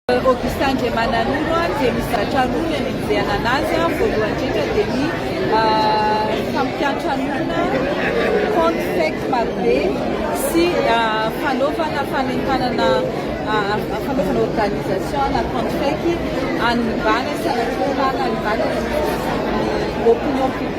Augustin Andriamananoro dia mizatra roa ny anenjehana anazy. Voalohany indrindra dia ny fampiantranoana compte fake marobe sy fanaovana fanentanana fanaovana organisation na compte fake anivana sy anatrehanana anivana ny opinion publique.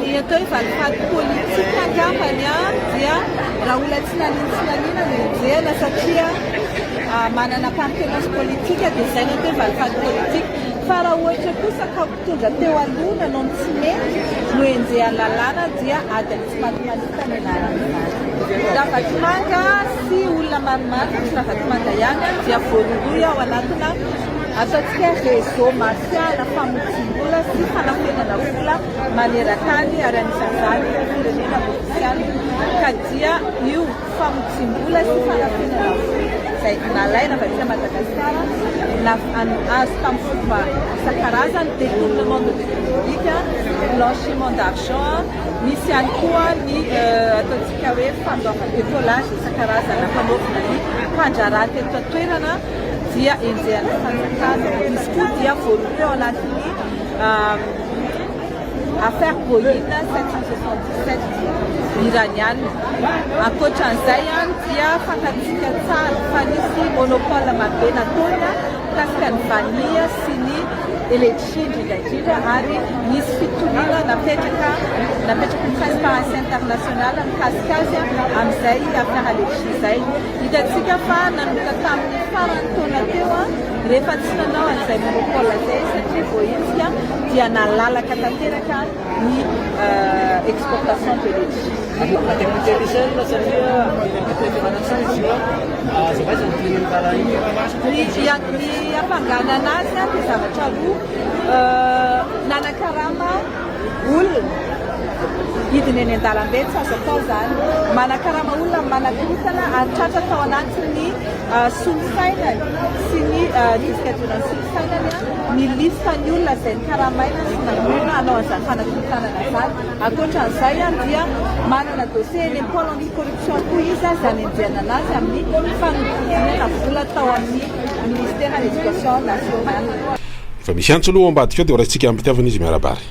Ny atao hoe valifaty politika angambany dia Rahola tsy nanino tsy nanino no enjehina satria manana appartenance politique dia izay no atao hoe valifaty politika. Fa raha ohatra kosa ka mpitondra teo aloha nanao ny tsy mety no enjehan'ny lalàna dia ady amin'ny tsy maty manota no ianaran'izany. Ravatomanga sy olona maromaro fa tsy Ravatomanga ihany dia voarohirohy ao anatina Ataontsika réseau martial famotsiam-bola sy fanafenana vola maneran-tany ary anisan'izany ireo firenena mofisiana ka dia io famotsiam-bola sy fanafenana vola izay nalaina avy aty Madagasikara na azo tamin'ny fomba isan-karazany, détournement de deniers publics, blanchiment d'argent, misy ihany koa ny ataontsika hoe fandoavana, décollage isan-karazany hampanaovina ny fandraharaha teto an-toerana. dia enjehan'ny fanjakana. Izy koa dia voaroa teo anatin'ny affaire Boeing 777 iraniana. Ankoatran'izay any dia fantatsika tsara fa nisy monopole marobe nataony mikasika ny vanille sy ny elektrisy indrindra indrindra ary nisy fitoniana napetraka napetraky ny Transparency International mikasika azy amin'izay affaire elektrisy izay. Hitantsika fa nanomboka tamin'ny faran'ny taona teo, rehefa tsy nanao an'izay momba Paul izay, satria voaenjika, dia nalalaka tanteraka ny exportation de letchis. Aza député Michel satria eny amin'ny fitondrana tsy misy io an, aza vaiza ny dinihin'ny raharaha iny. Ny hampanganana azy dia zavatra roa, nanakarama. olona hidina eny an-dalambe tsy azo atao izany, manakarama olona amin'ny manakorontana ary tratra tao anatin'ny solosainany sy ny diska dionan'ny solosainany ny listan'ny olona izay nikaramaina sy namonoana hanao an'izany fanakorotanana izany. Ankoatra an'izay dia manana dossier eny amin'ny pôle anti-corruption koa izy izay anenjehana anazy amin'ny fanodinkodinana vola tao amin'ny ministeran'ny éducation nationale. Efa misy antso aloha ao ambadika ao dia ho raisintsika amim-pitiavana izy miarabary.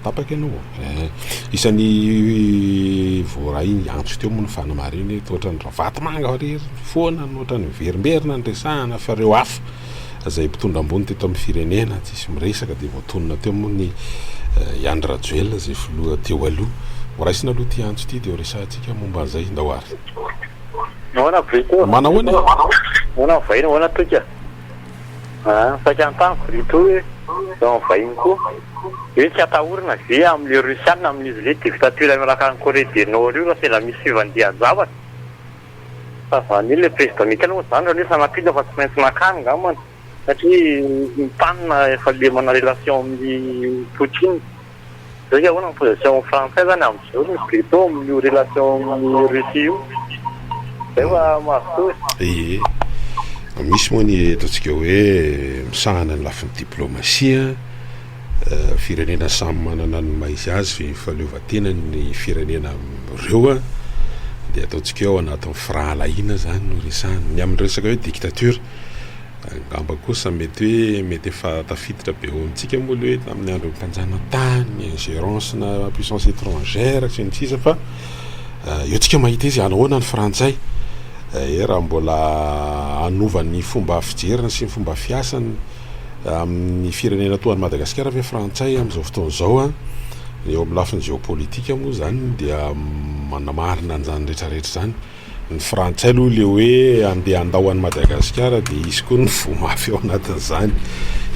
Tapaka ianao ô. Eh, isan'ny voaray ny antso teo moa ny fanamarina eto, ohatran'ny ravatomanga irery foana no ohatran'ny miverimberina ny resahana fa ireo hafa izay mpitondra ambony teto amin'ny firenena tsy misy miresaka dia voatonona teo moa ny eh, i Andry Rajoelina izay filoha teo aloha. Ho raisina aloha ity antso ity dia ho resahantsika momba an'izay ndao ary. Nahoana Brito? Manahoana e? Nahoana vahiny? Nahoana toika? Ah, saika anontaniako ry Toa hoe izao ny vahiny koa hoe tsy atahorana ve amin'ilay Russiana amin'izy le dictature miaraka any Corée du Nord io raha sendra misy fivandian-javatra? Fa zany hoe le président Michael moa zany raha ny hoe sanatria fa tsy maintsy makany ngambany satria ny tany na efa lemana relation amin'i Poutine. Saika ahoana ny position frantsay zany amin'ny zorony plutôt amin'io relation amin'i Russie io? Zay va mazotoa e? Ie. Misy moa ny ataontsika hoe misahana ny lafiny diplomasia, firenena samy manana ny maha izy azy ve ny fahaleovantenany ny firenena amin'ireo dia ataontsika hoe ao anatin'ny firahalahiana zany no resahana. Ny amin'ny resaka hoe dictature Angamba kosa mety hoe mety efa tafiditra be ao amintsika moa ilay hoe tamin'ny andron'ny mpanjanatany, ingérence-na puissance étrangère sy ny sisa fa eh, eo tsika mahita izy anahoana ny frantsay eh, raha mbola hanova ny fomba fijeriny sy ny fomba fiasany eh, amin'ny firenena toa an'i Madagasikara ve frantsay amin'izao fotoana izao a eo amin'ny lafiny géopolitique moa izany dia manamarina an'izany rehetrarehetra izany Ny frantsay aloha le hoe andeha handao an'i Madagasikara dia hisy koa ny voa mafy ao anatin'izany.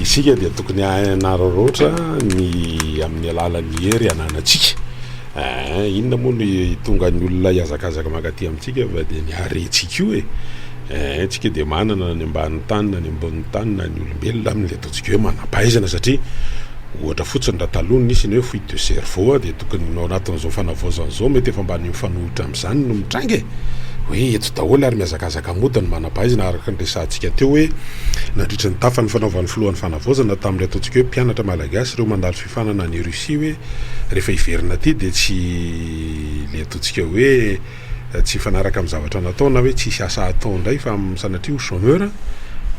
Isika dia tokony hanararaotra ny amin'ny alalan'ny hery ananantsika. Aa, eh, inona moa no hitonga ny olona hihazakazaka mankaty amintsika fa dia ny harentsika io e. Eh, eh, tsika dia manana na ny ambanin'ny tany na ny ambonin'ny tany na ny olombelona amin'ilay Ataontsika hoe manam-pahaizana satria ohatra fotsiny raha taloha nisy ny hoe fuite de cerveau dia tokony ao anatin'izao fanavaozana izao mety efa mba ny mifanohitra amin'izany no mitranga e! hoe eto daholo ary mihazakazaka mody ny manam-pahaizana araka ny resahantsika teo hoe nandritra ny tafan'ny fanaovan'ny filohan'ny fanavaozana tamin'ireo ataontsika hoe mpianatra malagasy ireo mandalo fifanana any Russie hoe rehefa hiverina aty dia tsy ilay ataontsika hoe tsy hifanaraka amin'ny zavatra natao na hoe tsy hisy asa hatao indray fa sanatria ho chômeur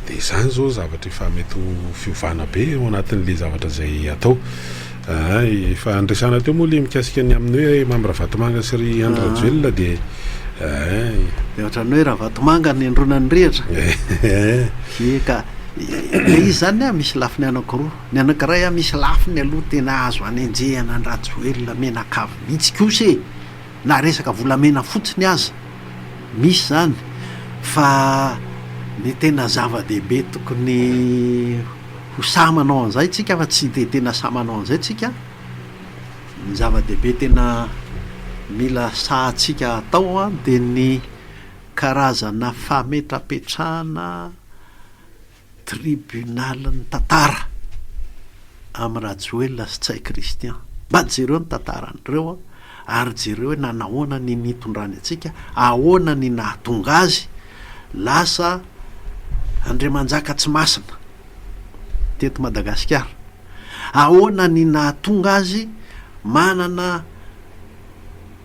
dia izany izao zavatra efa mety ho fiovana be ao anatin'ilay zavatra izay atao ah, efa andresana teo moa ilay mikasika ny amin'ny hoe Mamy Ravatomanga sy ry Andry ah. Rajoelina dia dia ohatran'ny hoe Ravatomanga ny endronan'ny rihatra eka le izy zany a misy lafiny anakiroa ny anakiray a misy lafiny aloha tena azo anenjehana ny Rajoelina menakavy mihitsy kosa e Na resaka volamena fotsiny aza misy izany fa ny tena zava-dehibe tokony ho sahy manao an'izay tsika fa tsy dia tena sahy manao an'izay tsika, ny zava-dehibe tena mila sahatsika atao dia ny karazana fametrapetrahana Tribunal ny tantara am Rajoelina sy Tsay Christian. Mba jereo ny tantaran'ireo ary jereo hoe nanahoana ny nitondrany antsika, ahoana ny nahatonga azy lasa Andriamanjaka tsy masina teto Madagasikara, ahoana ny nahatonga azy manana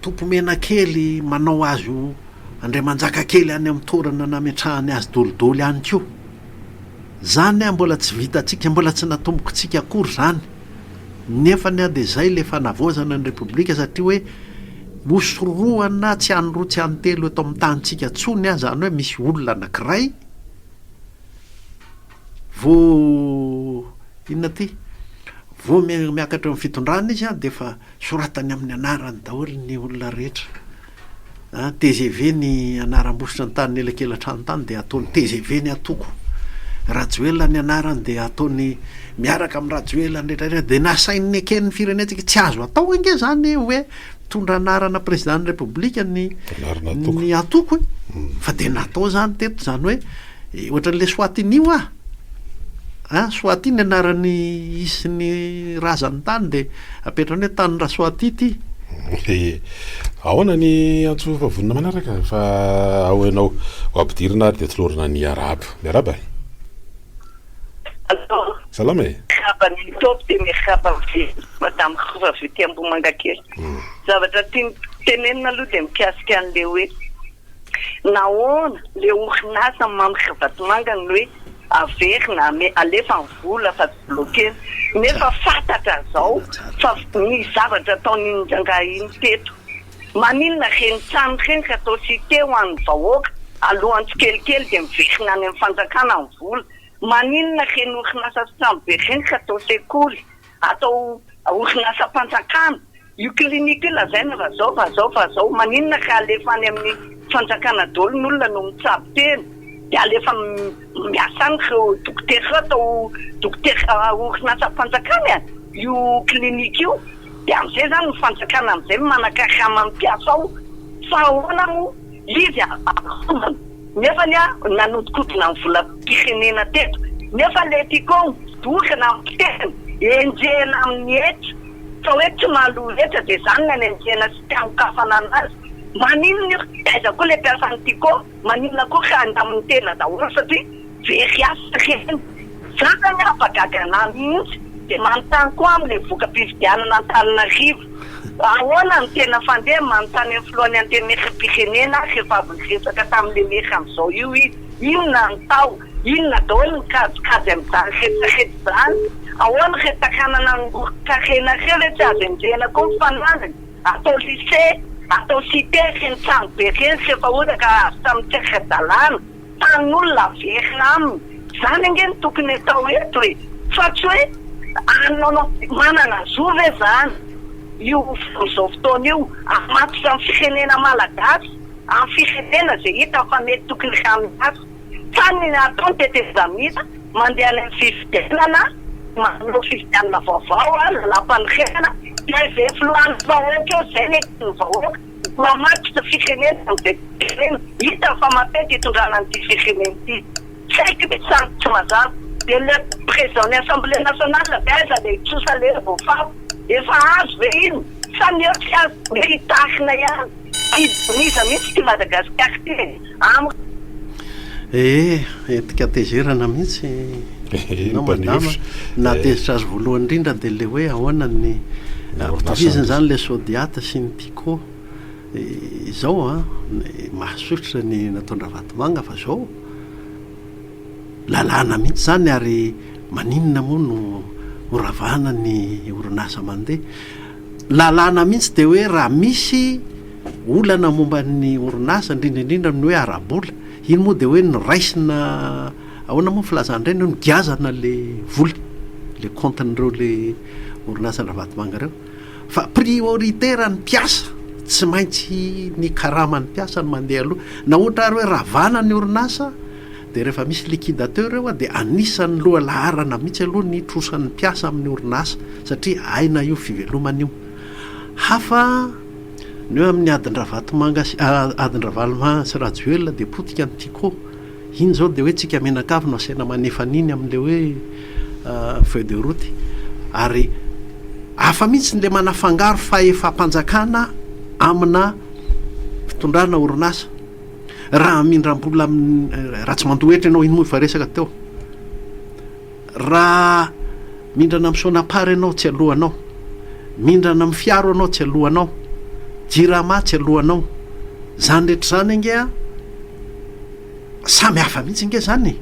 Tompomenakely manao azy ho andriamanjakakely any amin'ny toerana nametrahany azy dolidoly ihany koa. Izany an mbola tsy vitantsika, mbola tsy natombokontsika akory izany. Nefany an dia izay ilay fanavaozana ny Repoblika satria hoe hosorohana tsy any roa tsy any telo eto amin'ny tanintsika intsony an, izany hoe misy olona anankiray vao inona ity? vao miakatra eo amin'ny fitondrana izy an dia efa Soratany amin'ny anarany daholo ny olona rehetra. Tgv ny anaram-bositra ny tany ny elakelatrano tany dia ataony tgv ny atoko. Rajoelina ny anarany dia ataony miaraka amin'ny Rajoelina ny rehetra dia nasainy neken'ny firenentsika tsy azo atao ange zany hoe mitondra anarana prezidan'ny repoblika ny ny atoko e. Fa dia natao zany teto zany hoe Eh, ohatran'ny Leswatini hoa! A, Swati ny anaran'ny isin'ny razan'ny tany dia apetrany hoe tanin'i Raswati ity. Eh, ahoana ny antso fa vonona manaraka fa ao ianao ho ampidirina ary dia tolorana ny arabo. Miarahaba. Allo. Salama e. Miarahaba ny Top dia miarahaba an'i Madame Rova avy aty Ambohimangakely. Zavatra tiany tenenina aloha dia mikasika an'ilay hoe. Nahoana le orinasa mamrika vatomanga no hoe averina ame alefa ny vola fa tsy bloquena nefa fatatra zao fa ny zavatra ataon'iny rangahy iny teto maninona reny trano reny ka atao site ho an'ny vahoaka alohan'ny tsikelikely de miverina any amin'ny fanjakana ny vola maninona reny orinasa sy trano be reny ka atao sekoly atao orinasam-panjakana io clinique io lazaina fa zao fa zao fa zao maninona ka alefa any amin'ny fanjakana daholo ny olona no mitsabo tena de alefa miasa any reo dokotera reo atao dokotera orinasam-panjakana e io clinique io de amizay zany ny fanjakana amizay manakarama ny mpiasa ao fa ahoana moa Izy ampitombony nefa ny ahy nanodikodina ny volam-pirenena teto nefa le Ticom doka nampiteny enjehina amin'ny hetra fa hoe tsy mandoa hetra dia zany ny any enjehina sy tsy anokafana anazy maninona io? Aiza koa le mpiasan'ny Ticom? Maninona koa ka andamin'ny tena daholo satria very asa ireny. Za zany afa gaga anah mihitsy de manontany koa aho le voka-pifidianana Antananarivo fa ahoana no tena fandeha manontany am filohan'ny antenaeram-pirenena rehefa avy niresaka tamin'ny le maire amzao io izy inona no tao inona daholo ny kajikajy amzany retraretra zany ahoana re takanana nangoron-karena re ve tsy azo enjehina koa ny fananany atao lycée atao cite reny trano be reny rehefa ohatra ka azo tamin'ny tsy ara-dalàna tanin'olona averina aminy, zany ange no tokony atao eto e! fa tsy hoe anao manana zo ve zany io amin'izao fotoana io hamatotra amin'ny firenena malagasy, amin'ny firenena izay hitany fa mety tokony hamiasa, fa ny atao ny tetezamita mandeha any amin'ny fifidianana, manao fifidianana vaovao, lalàmpanorenana, dia izay filohan'ny vahoaka eo izay no eken'ny vahoaka. Mamadika firenena ny Bentefirenena, hitany fa mampety hitondrana an'ity firenena ity. Tsy haiko ny samy tsy mazava. Dia le président ny assemblée nationale ve aiza le hitrosa le voafafa? Efa azo ve iny? Sa ny eo tsy azo dia hoe hitarina ihany? Hidina iza mihitsy ity Madagasikara ity e? Amiko. Ee, entika tezerana mihitsy ianao madama. Nahatezitra azy voalohany indrindra dia ilay hoe ahoana ny ampitovizina izany ilay sodiate sy ny pico. Izao an, mahasosotra ny nataon-dRavatomanga fa izao lalàna mihitsy izany ary maninona moa no horavana ny orinasa mandeha. lalàna mihitsy dia hoe raha misy olana momba ny orinasa, indrindra indrindra amin'ny hoe ara-bola, iny moa dia hoe noraisina, ahoana moa ny filazan'ireny, nogiazana ilay vola, ilay kaontin'ireo ilay orinasan-dRavatomanga ireo. Fa priorité raha ny mpiasa, tsy maintsy ny karaman'ny mpiasa no mandeha aloha. Na ohatra ary hoe ravana ny orinasa, Dia rehefa misy liquidateur eo dia anisan'ny loha laharana mihitsy aloha ny trosan'ny mpiasa amin'ny orinasa satria aina io fivelomana io. Hafa ny hoe amin'ny adin-dRavatomanga sy adin-dRavalomanga sy Rajoelina dia potika ny Tiko. Iny izao dia hoe tsika mianakavy no asaina manefa an'iny amin'ilay hoe feuille de route ary hafa mihitsy ilay manafangaro fahefam-panjakana amina fitondrana orinasa. Raha hamindram-bola amin'ny raha tsy mandohetra ianao, iny moa efa resaka teo. Raha mindrana amin'ny Sonapar ianao, tsy alohanao. Mindrana amin'ny Fiaro ianao, tsy alohanao. Jirama, tsy alohanao. Izany rehetra izany ange an, samy hafa mihitsy ange izany e!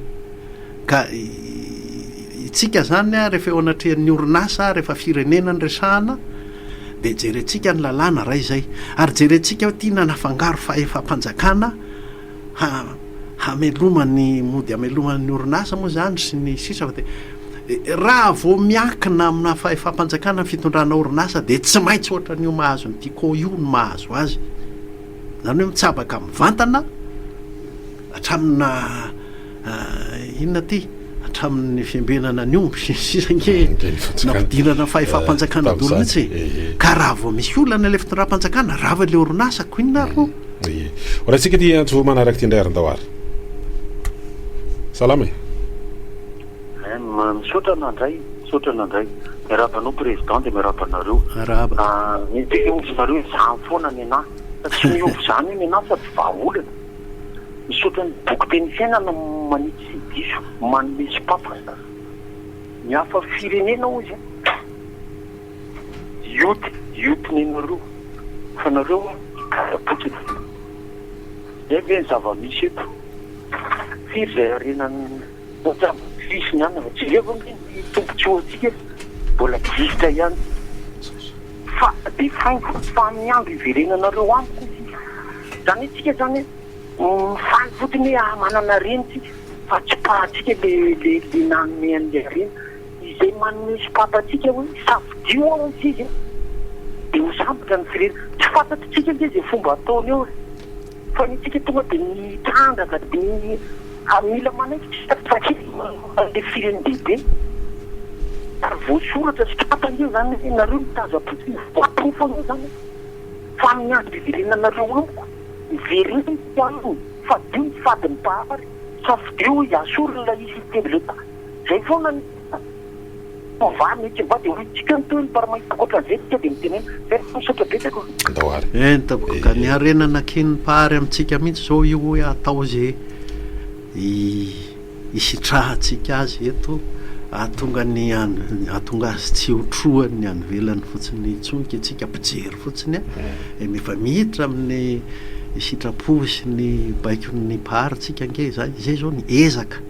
Ka itsika izany an, rehefa eo anatrehan'ny orinasa, rehefa firenena no resahana, dia jerentsika ny lalàna iray izay. Ary jerentsika hoe tiana hanafangaro fahefam-panjakana ha hameloma ny mody hamelomana ny orinasa moa izany sy ny sisa fa dia raha vao miankina amina fahefam-panjakana ny fitondrana orinasa dia tsy maintsy ohatran'io mahazo ny Tiko io no mahazo azy. Izany hoe mitsabaka mivantana hatramina Inona ity? Hatramin'ny fiambenana ny omby sy ny sisa ange nampidinana fahefam-panjakana dolo mihitsy e! Ka raha vao misy olana ilay fitondram-panjakana, rava ilay orinasa, ko inona ary moa? Ye. Ho raisika ity antso manaraka ity indray ary ndao ary. Salama e. Misaotra nandray, misaotra nandray. Miarahaba anao Président dia miarahaba anareo. Miarahaba. Ny teny ovy nareo izany foana nenah. Fa tsy miovy izany io nenah fa tsy vahaolana. Misaotra ny boky Teny Fiainana am manitsy diso manome sopapa ny hafa firenena hoy za Youth youth nenareo fa nareo gadra potsiny zay ve ny zava misy eto firy zay harena ny mpitsabo fils ny anona jereo ve ny tombontsoa antsika eto mbola gisitra ihany. Fa dia faingo fa amin'ny andro hiverenanareo amiko hoy sisa. Izany hoe tsika izany hoe mifaly fotsiny hoe ah manana reny tsika fa tsipahantsika ilay nanome an'ilay harena. Izay manome sopapa antsika hoe safidio aho hoy sisa dia ho sambatra ny firehana. Tsy fantatritsika ange izay fomba ataony eo e! Fa ny antsika tonga dia mitrandraka dia mila manaiky tsy tapaka kely manoloana ilay firen'ny bebe. Ary voasoratra sy tratra ange izany hoe nareo mitaiza boky io voaporofo ange izany fa amin'ny andro hiverenanareo amiko miverena isika aminy fadio ny fadin'ny Mpahary safidio hoy Asoro ilay izy hitendry lenta. Izay foana ny. Tovany ny kiva dia hoy tsika ny tohiny par mahita ankoatran'izay tsika dia mitenena. Tena misaotra betsaka o. Andao ary. Eny tompoko ka ny harena nakian'ny Mpahary amintsika mihitsy izao io hoe atao izay hisitrahantsika azy eto hahatonga ny hahatonga azy tsy ho trohan'ny any ivelany fotsiny intsony ka isika mpijery fotsiny an, efa miditra amin'ny sitrapo sy ny baikon'ny Mpahary tsika ange izany, izay izao ny ezaka.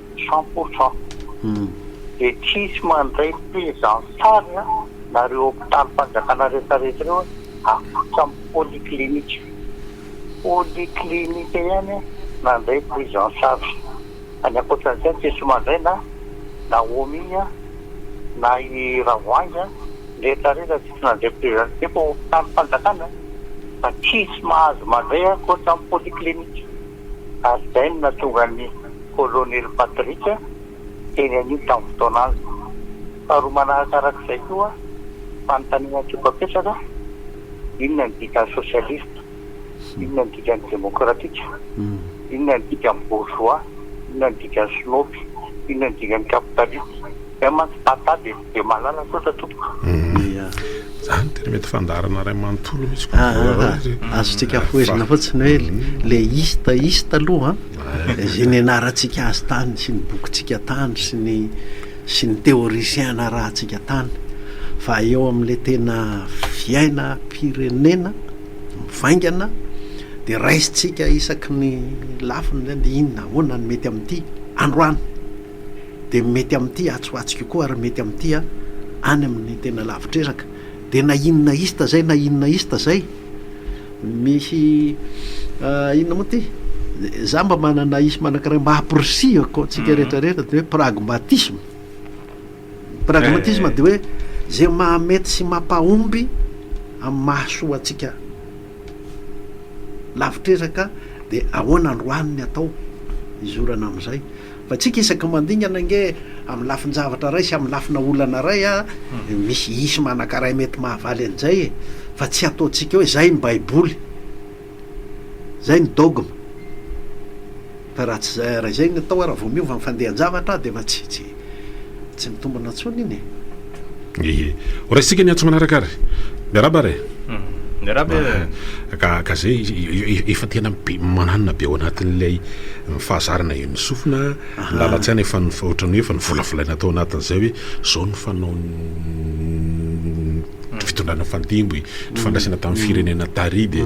cent pour cent de tsisy mandray prise en charge na reo hopitaly fanjakana rehetra rehetra reo akotra ny polyclinique, polyclinique ihany mandray prise en charge any akoatran'izay tsisy mandray na nahomi na i ravoahangy rehetra rehetra tsisy nandray prise en charge, efa hopitaly fanjakana fa tsisy mahazo mandray akoatra ny polyclinique. ary izay no nahatonga ny Kolonely Patrick teny anio tamin'ny fotoana azy. Faharoa manaraka araka izay koa, fanontaniana tiako hapetraka, inona ny dikan'ny sosialista? Inona ny dikan'ny demokratika? Inona ny dikan'ny bourgeois? Inona ny dikan'ny snopy? Inona ny dikan'ny kapitalista? Izay mantsy patate e! Dia malala kosa tompoko. Ia. Zany tena mety fandaharana iray manontolo mihitsy ko. Aah, azontsika afohezina fotsiny hoe le ista ista aloha an, izay nianarantsika azy tany sy ny bokintsika tany sy ny sy ny théoricien narahantsika tany fa eo amin'le tena fiainam-pirenena mivaingana dia raisintsika isaky ny lafiny zany dia inona ahoana ny mety amin'ity androany. dia mety amin'ity atsy ho atsy io koa ary mety amin'ity any amin'ny tena lavitr'ezaka. Dia na inona ista izay na inona ista izay, misy inona moa ity? Izaho mba manana isma anankiray mba hampirisihako antsika mhm. rehetra rehetra dia hoe pragmatisme. Pragmatisme eh. dia hoe izay mahamety sy mampahomby amin'ny mahasoa antsika Lavitr'ezaka dia ahoana androany ny atao hizorana amin'izay fa tsika isaky ny mandingana ange amin'ny lafin-javatra iray sy amin'ny lafina olana iray a misy hisy manankaray mety mahavaly an'izay e fa tsy ataontsika hoe izay ny baiboly izay ny dogme Fa raha tsy izay, raha izay ny atao ary vao miova ny fandehan-javatra dia efa tsy, tsy, tsy mitombina intsony iny e! Ehe. Ho raisintsika ny antso manaraka ary. Miarahaba ary e! Miarahaba e! Ehe. Ka, ka izay, efa tena be, mananina be ao anatin'ilay fahazarana eo ny sofina, ny lalan-tsaina efa ny, ohatran'ny hoe efa novolavolaina tao anatin'izay hoe izao no fanaon'ny fitondrana nifandimby, nifandraisana tamin'ny firenena tary dia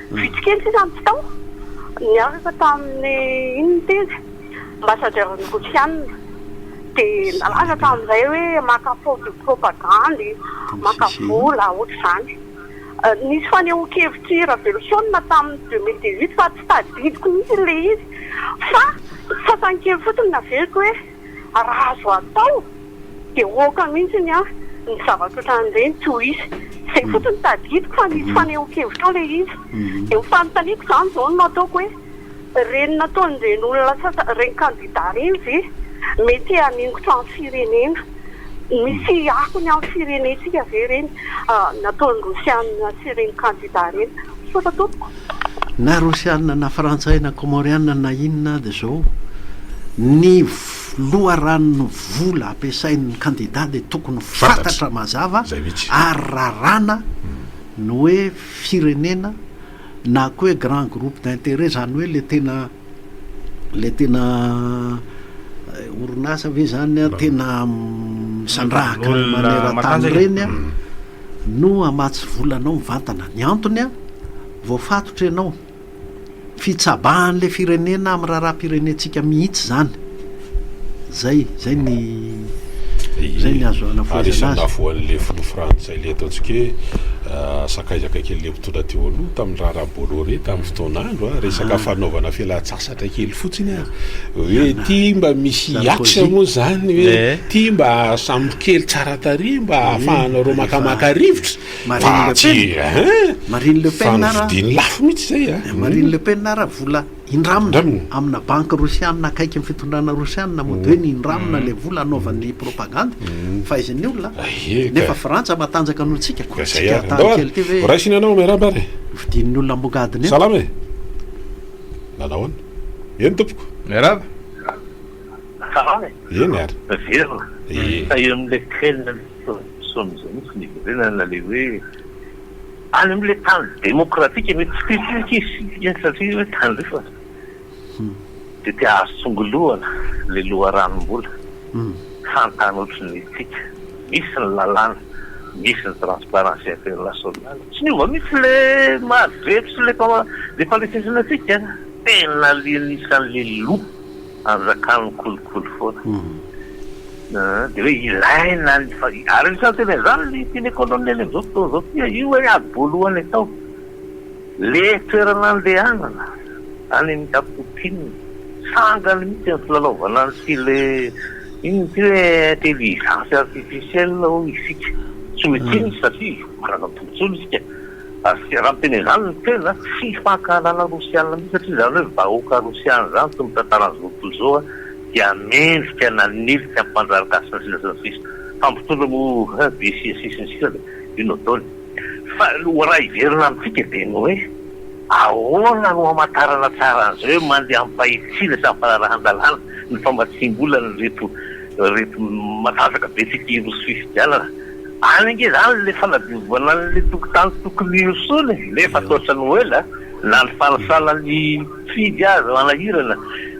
Vitsy kely sisa ny tsy tao. Niaraka tamin'ny inona tena? Ambassadeur ny Rosiana. Dia nalaza tamin'izay hoe maka photo propagande, maka vola, ohatr'izany. Nisy fanehoan-kevitr'i Raveloson tamin'ny deux mille dix-huit fa tsy tadidiko mihitsy ilay izy fa sasany kely fotsiny no averiko hoe. raha azo atao de oka mintsiny an ny zavatra otrany ireny tsy ho hisy, zay fotsiny tadidiko fa nisy fanehonkevitra ao ilay izy, de ny fanontaniako zany zao no ataoko hoe ireny nataon'ireny olona sasany ireny kandida ireny ve mety haningotra ny firenena, misy akony amin'ny firenentsika ve ireny? nataon'ny Rosiana sy ireny kandida ireny. Misaotra tompoko. Na Rosiana na Frantsay na Kômôriana na inona aza izao, ny loharanon'ny vola ampiasain'ny kandida dia tokony ho fantatra mazava ary raràna ny hoe firenena na koa hoe grand groupe d'intérêt, izany hoe ilay tena. Ilay tena orinasa ve zany an, tena misandrahaka ny maneran-tany ireny an, no hamatsy vola anao mivantana. Ny antony an, voafatotra ianao. Fitsabahan'ilay firenena amin'ny raharaham-pirenentsika mihitsy izany. Zay, zay ny, zay ny azo anavoazana azy. Ary isan'ny nahavoan'le filoha frantsay le ataontsika hoe sakaiza akaiky an'le mpitondra teo aloha tamin'ny raharaha Bolloré tamin'ny fotoan'andro a, resaka fanaovana fialantsasatra kely fotsiny a, hoe ty mba misy axe moa zany hoe ty mba sambo kely tsara tarehy mba ahafahanareo makamaka rivotra fa tsy hein! Fa novidian'ny lafo mihitsy zay a! Marine Le Pen ara vola. Indramina, amina banky rosianina akaiky ny fitondrana rosianina moa dia hoe ny indramina ilay vola anaovan'ny propagandy fahaizan'ny olona, nefa frantsa matanjaka noho antsika, koa tsika hataly kely ity ve Raisina anao, miarahaba ary. Vidin'ny olona ambongadiny eo. Salama e! Nanao ahoana? Eny tompoko. Miarahaba. Salama e! Eny ary. Miverina. Ie. Fa eo amin'ilay crime misy ny solomaso mihitsy ny hiverenana ilay hoe. Any amin'ilay tany demokratika anie tsy tia tsika izy iny satria hoe tandrifana dia te hahazo tsongolohana ilay loharanom-bola fantany ohatry ny antsika. Misy ny lalàna, misy ny transparency internationale. Tsy niova mihitsy ilay maha drery sy ilay mpandresy antsika. Tena alienissan'ilay loup. Azo zakany ny kolikoly foana. Dia hoe ilaina ny fa ary anisan'ny teny an'izany ny filet colonel amin'izao fotoana izao ity a! Io hoe ady voalohany atao. Ilay toerana andehanana any amin'ny Cap Poutine, sangany mihitsy ny filalaovana ny tele, inona ity hoe intelligence artificielle hoy isika. Tsy mety inona satria manana tombotsoa isika. ary raha miteny izany ny tena tsy fankahalana rosiana mihitsy satria izany hoe vahoaka rosiana izany toy ny tantaran'ny zoto izao dia mendrika nanilika hampandrary gasy sy ny sisa sy ny sisa fa mpitondra moa dia sy ny sisa sy ny sisa dia inona ataony fa ho raha hiverina amintsika dia ny hoe ahoana no hamantarana tsara an'izay hoe mandeha amim-pahitsiana sy amim-panarahan-dalàna ny famatsiam-bolan'ireto ireto matanjaka be tsika hiroso fifidianana Any ange zany ilay fanadiovana an'ilay tokontany tokony ho solo e, nefa toatra ny ho ela na ny fanisana ny mpifidy aza manahirana.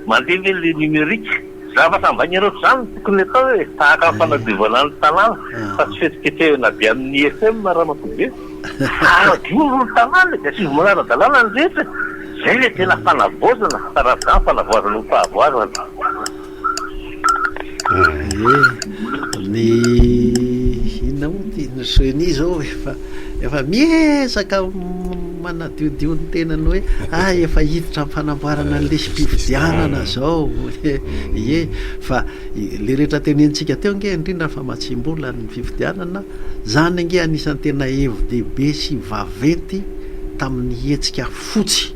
Mandeha ve ilay numérique? Zavatra ambain'ireo zany no tokony atao e, tahaka ny fanadiovana ny tanàna fa tsy fihetsiketsehana avy amin'ny IFM Ramatoa Be. Fanadio aloha ny tanàna e, dia asivonao ara-dalàna ny rehetra e, zay ilay tena fanavaozana, hatarazo izany fanavaozana ho fahavoazana. Ie, ny inona moa ty, ny ceni izao efa efa miezaka manadiodio ny tenany hoe ah efa hiditra amin'ny fanamboarana ny lisi-pifidianana izao hoe ie fa ilay rehetra tenenintsika teo ange indrindra fa mahatsiam-bola ny fifidianana, izany ange anisan'ny tena hevi-dehibe sy vaventy tamin'ny hetsika fotsy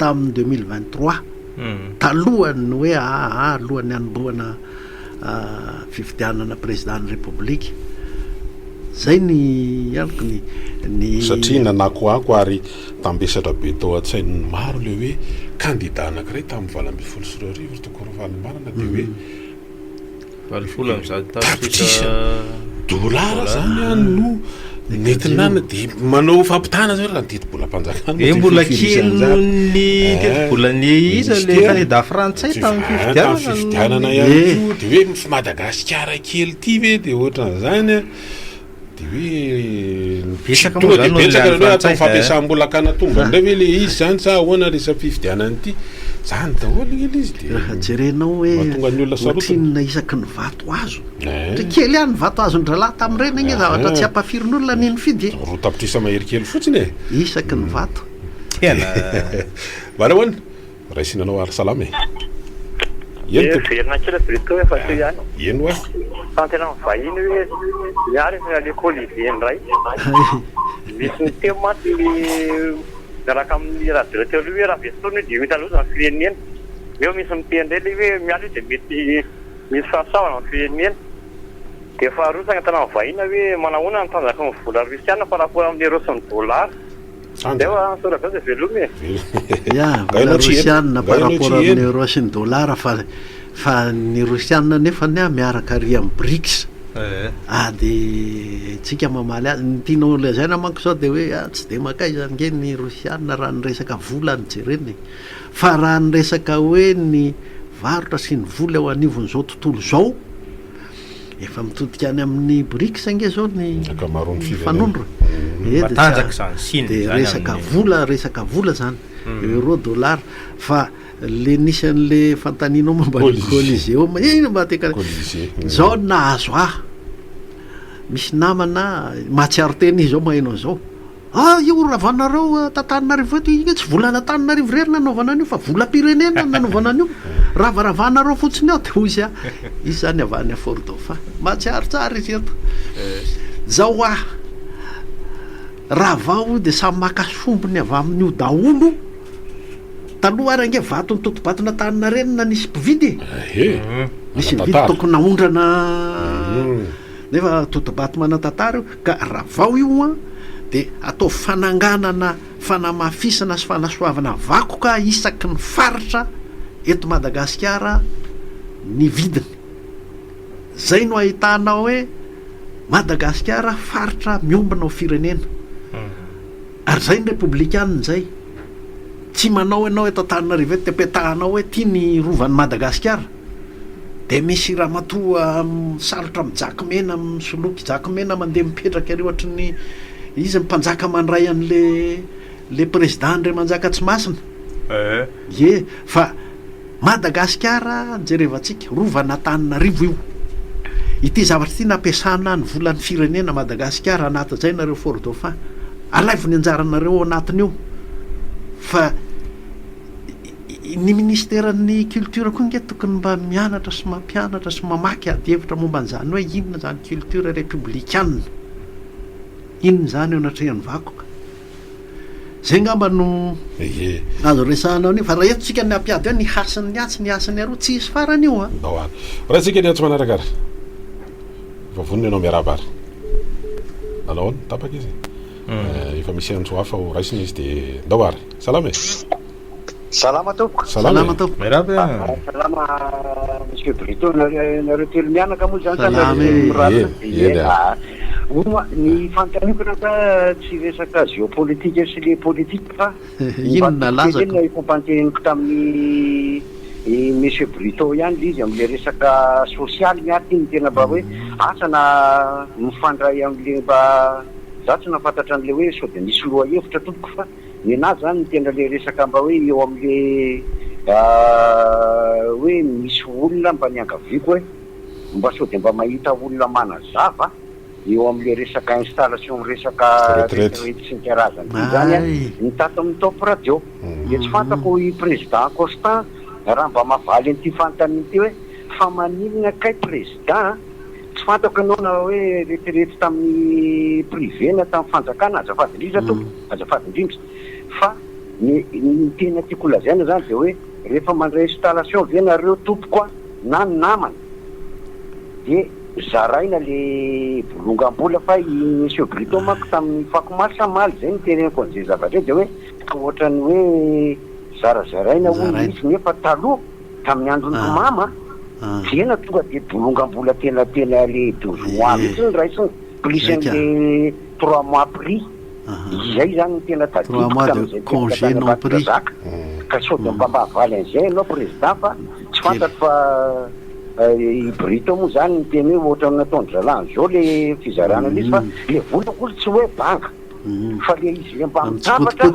tamin'ny deux mille vingt trois. talohan'ny hoe ahaha alohan'ny hanombohana fifidianana prezidan'ny repoblika. Zay ny amiko ny. Satria nanakoako ary tambesatra be tao an-tsain'ny maro ilay hoe kandida anankiray tamin'ny valo ambin'ny folo sy roa arivo ry Toky Ravalomanana dia hoe. Valopolo amby zato tapitrisa dolara zany an no netinana dia manao fampitana zany raha ny tetibolam-panjakana dia mbola kely noho ny eh, tetibolany iza le kandida frantsay tamin'ny fifidianana fifidianana ihany eh. koa dia hoe Madagasikara kely ity ve dia ohatran'izany an Dia hoe ny tsy tonga dia betsaka ilay hoe atao fampiasam-bola an-kanatombo indray ve ilay izy izany sa ahoana ilay safifidianana ity? Izany daholo ilay izy dia Raha jerenao hoe mahatonga ny olona sarotiny. ohatrinona isaky ny vato azo. Ohatra Eh. kely ihany ny vato azon-drahalahy tamin'ireny ange zavatra tsy ampafirin'olona ny nifidy e. Roa tapitrisa mahery kely fotsiny e. Isaky ny vato. Tena. Mba nahoana? Raisina anao ary salama e! Eny tompoko. Miverina kely aty Beto efa teo ihany. Eny wa. Tanteran'ny vahiny hoe ny ahy rehefa aleoko holiday indray. Misy ny teo mantsy ny miaraka amin'ny radio teo aloha hoe raha very fotoana io dia enta loza ny firenena. Neo misy miteny indray ilay hoe miala io dia mety misy fahasoavana amin'ny firenena. Dia faharoa ny saina tanan'ny vahiny hoe manahoana ny tanjaky ny vola rosiana par rapport amin'ny euro sy ny dollar. Andeo a, Soa Rajaoja veloma e. Ya, valeur rosianina par rapport amin'ny euro sy ny dollar fa fa ny rosianina nefa anie miaraka ary amin'ny brics. Ah dia tsika mamaly azy, ny tianao lazaina manko zao dia hoe ah tsy dia makaiza ange ny rosianina raha ny resaka vola no jerena e. Fa raha ny resaka hoe ny varotra sy ny vola eo anivon'izao tontolo izao, Efa mitodika any amin'ny BRICS ange izao ny Ankamaroan'ny firenena. mifanondro. Eeh, dia tsy Matanjaka a- izany, Chine dia izany resaka amin'ny- vola, resaka vola izany. Euro, dollar. Fa ilay nisy an'ilay fanontanianao momba ny Colisée. Coliseum, eh inona mba te hika- Colisée. Izao no nahazo ahy. Misy namana mahatsiaro tena izy izao maheno an'izao. Ah io ravanareo tantaninarivo eto io tsy vola an'antananarivo irery nanaovana an'io fa vola mpirenena no nanaovana an'io ravaravanareo fotsiny ao de hoy izy ah izy zany avy any fort dauphin mahatsiaro tsara izy eto zao ah rava hoy de samy maka sombiny avy amin'io daholo taloha ary ange vato nitotobatona tany narenina nisy mpividy e nisy mpividy tokony naondrana nefa totobato manantantara io Ka raha vao io an, dia ataovy fananganana, fanamafisana sy fanasoavana vakoka isaky ny faritra eto Madagasikara ny vidiny. Zay no ahitana hoe Madagasikara faritra miombona ho firenena. Ary izay ny repoblikanina izay. Tsy manao ianao eto Antananarivo eto dia petahanao hoe ity ny rovan'i Madagasikara. Dia misy ramatoa misalotra mijakimena, misoloky jakimena mandeha mipetraka ery ohatry ny izy ny mpanjaka mandray an'ilay ilay président Andriamanjaka Tsimasina. Ee. Ie. Fa. Madagasikara jerevantsika, rovan'Antananarivo io. Ity zavatra ity nampiasana ny volan'ny firenena Madagasikara hanatajaina ireo Fort Dauphin. Alaivo ny anjaranareo ao anatin'io fa ny ministeran'ny culture koa nge tokony mba mianatra sy mampianatra sy mamaky ady hevitra momba an'izany hoe inona izany culture republikana. Inona izany eo anatrehan'ny vakoka. Zay ngamba no azo resahana an'io fa raha eto tsika ny hampiady hoe ny hasin'ny atsy ny hasin'ny aroa tsy hisy farany io an! Ao ary. Raintsika ny atsy manaraka ary. Efa vonona ianao miarahaba ary. Nanao ahoana? Tapaka izy? Efa misy antso hafa ho raisina izy dia ndao ary. Salama e! Salama tompoko. Salama tompoko. Miarahaba e. Ah, salama Monsieur Brito, nareo telo mianaka moa zany sa nareo telo miraraka? Eny ah. Moa ny fanontaniana ka tsy resaka géopolitique sy le politique fa inona laza ka? Efa panteniko tamin'ny i Monsieur Brito ihany le izy amle resaka social ny aty ny tena mba hoe mm. asa na mifandray amle mba za tsy nafantatra anle hoe sode misy loha hevitra tompoko fa Nenazy zany no tena le resaka mba hoe eo amle hoe misy olona mba niangaviako hoe mba sao dia mba mahita olona manazava eo amle resaka installation resaka retraite sy ny karazany ity zany an ny tato amin'ny top radio dia tsy fantako i president Constant raha mba mahavaly an'ity fanontaniana ity hoe fa maninona kay president an Tsy fantako ianao na hoe retirety tamin'ny privé na tamin'ny fanjakana, azafady indrindra tompoko, azafady indrindra, fa ny ny tena tiako holazaina izany dia hoe rehefa mandray installation ve nareo tompoko a, na ny namana, dia zaraina le bolongam-bola fa i monsieur Brito manko tamin'ny fako omaly sa maly izay no tereniko an'izay zavatra izay dia hoe ohatran'ny hoe zarazaraina hono izy nefa taloha. Tamin'ny andron'i Mpimama dia na tonga dia bolongam-bola tena tena le deux mois mihitsy ny raisiny, plus an'le trois mois pris. Izay izany no tena tadidiko tamin'izay tefitra tany Ambatondrazaka. Ka sao dia mba havaly an'izay ianao Président fa tsy fantatro fa i Brito moa izany niteny hoe ohatran'ny nataon'i Zalahy izao le fizarana an'izy fa le vola hono tsy hoe banga fa le izy le mba mitambatra.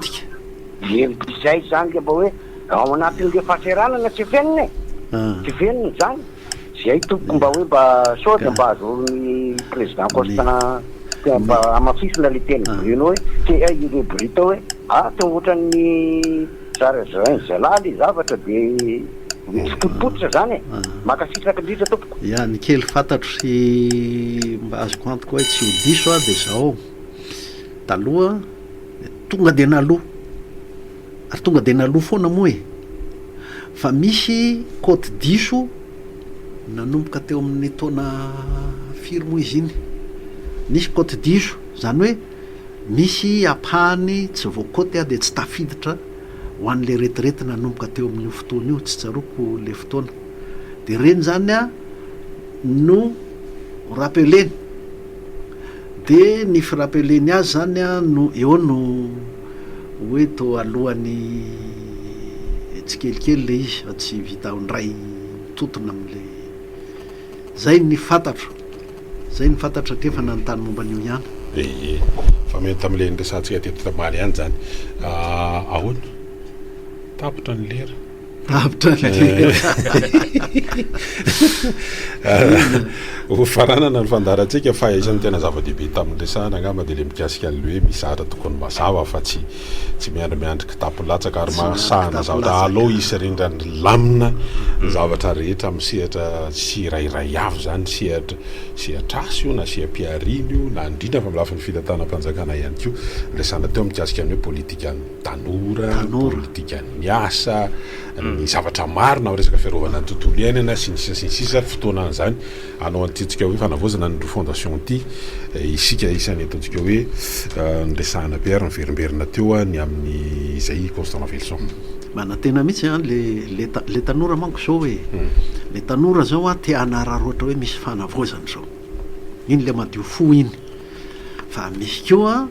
Hevitra izay izany dia mba hoe ao anatin'ireo fahasahiranana tsy fenina e! Tsy fenina izany. Izay tompoko mba hoe mba sao dia mba azahoan'ny Président Constant dia mba hamafisina ilay teny Bruno hoe te hay ireo Brita hoe a te ho ohatran'ny zarazarain'ny zalahy ilay zavatra dia tsy potipotika izany e! Mankasitraka indrindra tompoko. Ya, ny kely fantatro sy mba azoko antoka hoe tsy ho diso aho dia izao, taloha, Tonga dia naloa. Ary tonga dia naloa foana moa e! Fa misy kaoty diso nanomboka teo amin'ny taona firy moa izy iny? Nisy kaoty diso, izany hoe misy ampahany tsy voakaoty dia tsy tafiditra ho an'ilay retirety nanomboka teo amin'io fotoana io, tsy tsaroako ilay fotoana. Dia ireny izany no ho rappelena. De ny firapelen'ny azy zany no eo no hoe to alohan'ny tsikelikely le izy fa tsy vita ao ndray mitotona amle zay ny fantatro zay ny fantatro satria efa nanontany momba an'io ihany. Ee, fa mety tamle niresahantsika teto tambaly ihany zany. Ahoana? Tapitra ny lera. Avotra Ho fananana ny fandaharantsika fa isan'ny tena zava-dehibe tamin'ny resahana angamba dia ilay mikasika an'ilay hoe misy zavatra tokony mazava fa tsy tsy miandry kitapo latsaka ary mahasahana zavatra alou hisy rindran'ny lamina ny zavatra rehetra amin'ny sehatra tsirairay avy izany sehatra sehatr'asa io na seha-pihariana io na indrindra fa amin'ny lafiny fitantanam-panjakana ihany koa resahana teo mikasika ny hoe politikan'ny tanora, politika ny asa, ny zavatra marina amin'ny resaka fiarovana ny tontolo iainana sy ny sisa sy ny sisa, fotoana an'izany hanao an'ity antsika hoe fanavaozana ny roa fondation ity isika isan'ny ataontsika hoe niresahana be ary niverimberina teo ny amin'ny izay i Constant Raveloson. Manantena mihitsy an, le le le tanora manko zao e, le tanora zao an te hanararaotra hoe misy fanavaozana izao, iny le madio fo iny, fa misy koa.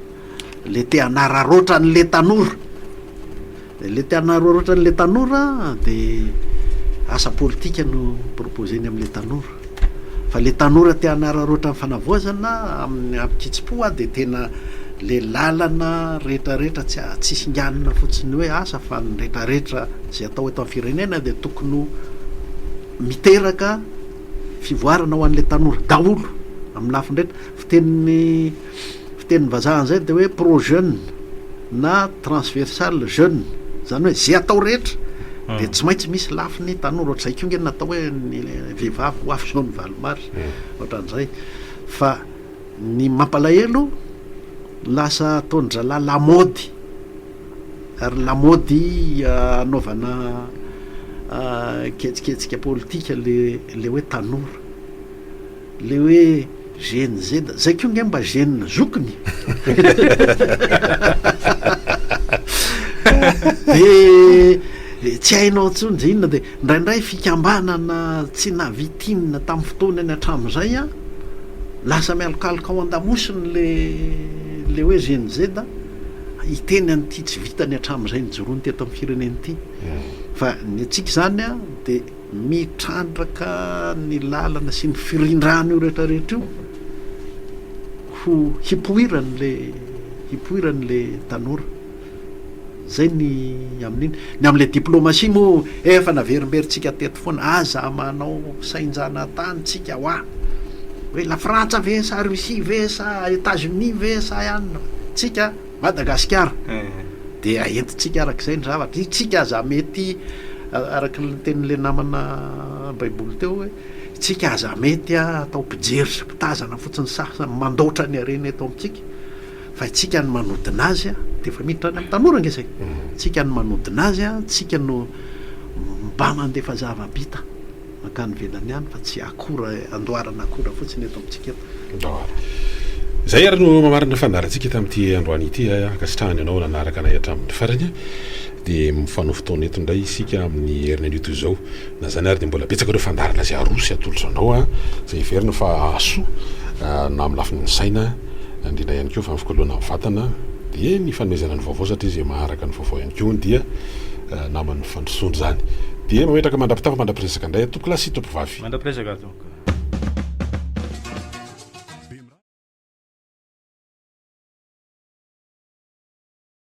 Le te hanararaotra an' le tanora, le te hanararaotra an' le tanora de asa politika no proposer-ny am' le tanora, fa le tanora te hanararaotra ny fanavaozana amin'ny amin-kitsim-po a de tena le lalana retraretra tsy a- tsy singanina fotsiny hoe asa fa ny retraretra zay atao eto am' firenena de tokony ho miteraka fivoarana ho an' le tanora daholo am' lafiny rehetra, fitenin'ny. Fitenin'ny vazaha an'izay dia hoe pro-jeune na transversal jeune, izany hoe izay atao rehetra dia tsy maintsy misy lafiny tanora, ohatr'izay koa nge ny natao hoe ny vehivavy ho avy izao ny valimary, ohatran'izay. Fa ny mampalahelo, lasa ataon-dRalahy lamaody, ary lamaody hanaovana ketsiketsika politika ilay hoe tanora. Le hoe gene Z, zay ko nge mba gene zokiny de tsy hainao tsony de inona de ndraindray fikambanana tsy navitinina tam fotoana iny atram zay a lasa mialokaloka ao andamosiny le le hoe gene Z a hiteny an ty tsy vitany atram zay nijoroany teto am firenena ty fa ny antsika zany a de Mitrandraka ny lalana sy ny firindrana io rehetra rehetra io ho hipoirany le hipoirany le tanora. Zay ny amin'iny. Ny amin'ilay diplomatie moa efa naverimberintsika teto foana, aza manao sain-janatany tsika hoa hoe la frantsa ve sa Russie ve sa Etats-Unis ve sa ianona fa tsika Madagasikara dia entintsika araka izay ny zavatra, isika aza mety araka ny tenin'ilay namana baiboly teo hoe isika aza mety atao mpijery sy mpitazana fotsiny sasany mandaotra ny harena eto amintsika fa isika ny manodina azy a dia efa miditra any amin'ny tanora nge zay isika ny manodina azy a isika no mba mandefa zava-bita Mankany ivelany any fa tsy akora andoharana akora fotsiny eto amintsika eto. Izay ary no mamarana ny fandaharantsika tamin'ity androany ity. Ankasitrahana ianao nanaraka anay hatramin'ny farany. Dia mifanohy fotoana eto indray isika amin'ny heriny anio toy izao. Na izany ary dia mbola betsaka ireo fandaharana izay aroso atolotra anao izay heverina fa hahasoa na amin'ny lafiny saina indrindra ihany koa fa ny fikoloana ny vatana dia ny fanomezana ny vaovao satria izay maharaka ny vaovao ihany koa dia naman'ny Fandrosoana izany. Dia mametraka mandra-pitafa mandra-piresaka indray atoko lahy sy toko vavy. Mandra-piresaka atoko.